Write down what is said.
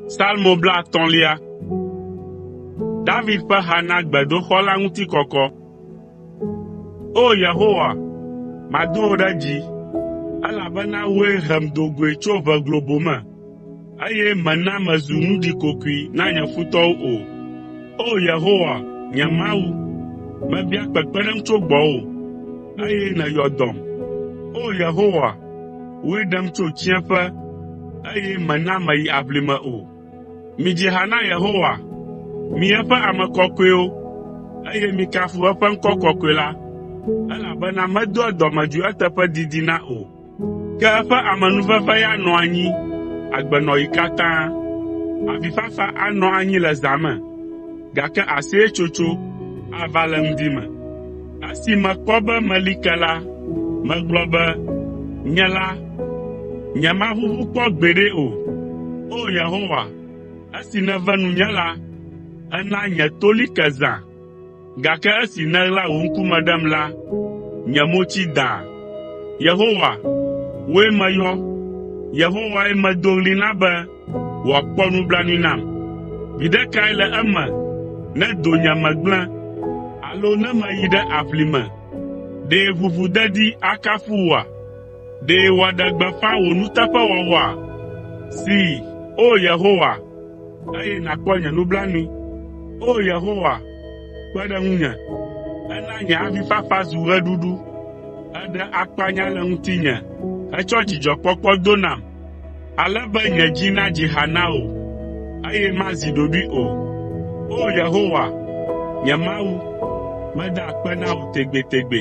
Salmo blaatɔ̃lia. David ƒe ha na gbedoxɔ la ŋuti kɔkɔ. O! Yehowa, mado wò ɖe dzi, elabena wòe hem do goe tso ʋe globo me. Eye mèna mezu nu ɖikokoe na nye futɔwo o. O Yehowa, nye Mawu, mebia kpekpeɖeŋu tso gbɔwò, eye nèyɔ dɔm. O Yehowa, wòe ɖem tso tsiẽƒe, eye mèna meyi aʋlime o. Midzi ha na Yehowa, mi eƒe ame kɔkɔewo, eye mikafu eƒe ŋkɔ kɔkɔe la, elabena medoa dɔmedzoe eteƒe didina o. Ke eƒe amenuveve ya nɔ anyi agbenɔɣi katã. Avifafa anɔ anyi le zã me, gake aseyetsotso ava le ŋdi me. Esi mekpɔ be meli ke la, megblɔ be, “Nye la, nyemaʋuʋu kpɔ gbeɖe o.” O! Yehowa, esi nève nunye la, èna nye to li ke zã. Gake esi nèɣla wò ŋkume ɖem la, nye mo tsi dãa. Yehowa, wòe meyɔ, Yehowae medo ɣli na be wòakpɔ nublanui nam. Viɖe kae le eme ne donyeme gblẽ alo ne meyi ɖe aʋlime? Ɖe ʋuʋudedi akafu wòa? Ɖe wòaɖe gbeƒã wò nuteƒewɔwɔa? See, O Yehowa, eye nàkpɔ nye nublanui. O Yehowa, kpe ɖe ŋunye. Èna nye avifafa zu ɣeɖuɖu. Èɖe akpanya le ŋutinye hetsɔ dzidzɔkpɔkpɔ do nam, ale be nye dzi nadzi ha na wò, eye mazi ɖoɖoe o. O Yehowa, nye Mawu, meda akpe na wò tegbetegbe.